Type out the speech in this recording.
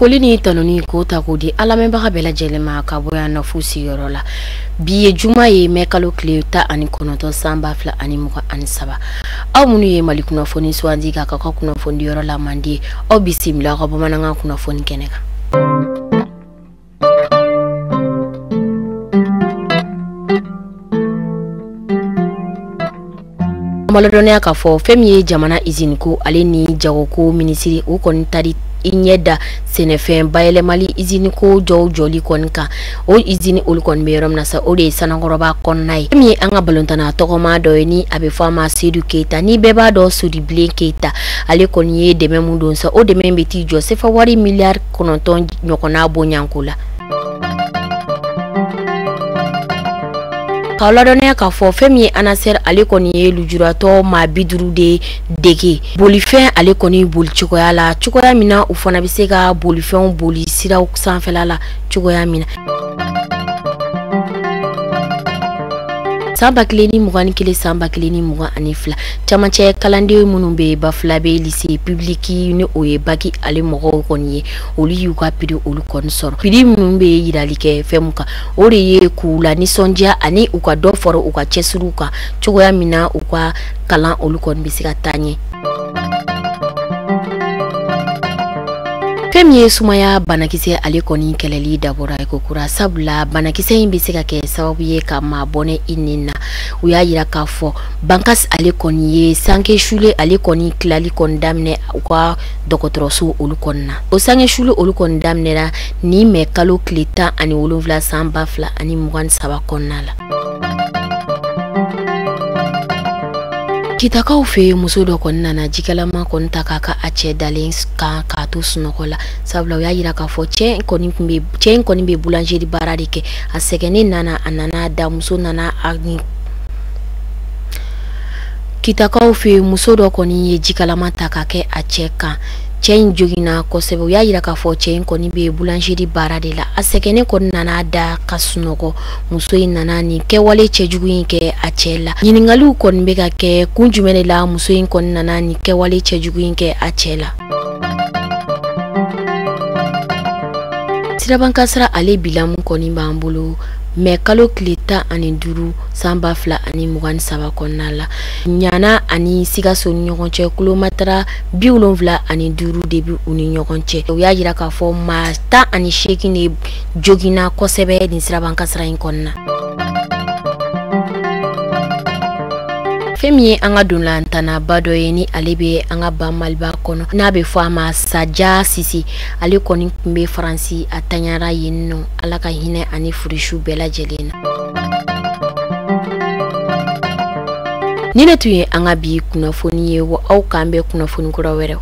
foli ni tanuni k'o ta k'o di an lamɛnbaga bɛɛ lajɛlen ma ka bɔ yan nɔfu sigiyɔrɔ la bi ye juma ye mɛ kalo tile tan ani kɔnɔntɔn san ba fila ani mugan ani saba aw minnu ye mali kunnafoni sugandi k'a k'aw ka kunnafonidiyɔrɔ la mandi aw bisimila aw ka bamanankan kunnafoni kɛnɛ kan n b'aw ladɔnniya k'a fɔ fɛn min ye jamana iziniko ale ni jagoko minisiri o kɔni taara i ɲɛ da sɛnɛfɛn bayɛlɛmali izini ko jɔw jɔli kɔni kan o izini olu kɔni bɛ yɔrɔ min na sa o de ye sanankɔrɔba kɔnɔna ye fɛn min ye an ka balontanna tɔgɔma dɔ ye ni a bɛ fɔ a ma sedu keyita ni bɛɛ b'a dɔn sedubilen keyita ale kɔni ye dɛmɛ min don sa o dɛmɛ bɛ t'i jɔ sefa wari miliyari kɔnɔntɔn ɲɔgɔnna bonyako la k'aw ladɔnniya k'a fɔ fɛn min ye anasɛri ale kɔni ye lujuratɔ maa bi duuru de dege bolifɛn ale kɔni boli cogoya la cogoya min na u fana bɛ se ka bolifɛnw boli siraw sanfɛla la cogoya min na san ba kelen ni mugan ni kelen san ba kelen ni mugan ani fila camancɛ kalanden minnu bɛ bafulabɛ lise pibiliki ni o ye baki ale mɔgɔw kɔni ye olu y'u ka piri olu kɔni sɔrɔ piri minnu bɛ yirali kɛ fɛn min kan o de ye k'u lanisɔndiya ani u ka dɔ fara u ka cɛsiriw kan cogoya min na u ka kalan olu kɔni bɛ se ka taa ɲɛ fɛn min ye sumaya banakisɛ ale kɔni kɛlɛli dabɔra yen kokura sabula banakisɛ in bɛ se ka kɛ sababu ye ka maa bɔnɛ i ni na u y'a yira k'a fɔ bankas ale kɔni ye sanke shulen ale kɔni tilali kɔni daminɛ u ka dɔgɔtɔrɔso olu kɔni na o sanke shulen olu kɔni daminɛna ni mɛ kalo tile tan ani wolonfila san ba fila ani mugan ni saba kɔnɔna la kitakaw fɛ yen muso dɔ kɔni nana jikalama kɔni ta k'a kɛ a cɛ dalen kan k'a to sunɔgɔ la sabula u y'a yira k'a fɔ cɛ in kɔni bɛ boulangerie baara de kɛ a sɛgɛnnen nana a nana da muso nana a kitakaw fɛ yen muso dɔ kɔni ye jikalama ta k'a kɛ a cɛ kan cɛ in joginna kosɛbɛ u y'a yira k'a fɔ cɛ in kɔni bɛ boulangerie baara de la a sɛgɛnnen kɔni nana da ka sunɔgɔ muso in nana nin kɛwale cɛjugu in kɛ a cɛ la ɲininkaliw kɔni bɛ ka kɛ kun jumɛn de la muso in kɔni nana nin kɛwale cɛjugu in kɛ a cɛ la siraba kan kasaara ale bilan min kɔni b'an bolo mɛ kalo tile tan ani duuru san ba fila ani mugan ni saba kɔnɔna la ɲana ani sikaso ni ɲɔgɔn cɛ kilomɛtɛrɛ bi wolonfila ani duuru de bi u ni ɲɔgɔn cɛ o y'a yira k'a fɔ maa tan ani seegin de joginna kosɛbɛ nin siraban kasaara in kɔnɔna fɛn min ye an ka ntolatannaba dɔ ye ni ale bɛ an ka ba maliba kɔnɔ n'a bɛ fɔ a ma saja sise ale kɔni tun bɛ faransi a tanyara yen nɔ ala ka hinɛ a ni furesuw bɛɛ lajɛlen na nin de tun ye an ka bi kunnafoni ye wa aw k'an bɛn kunnafoni kura wɛrɛw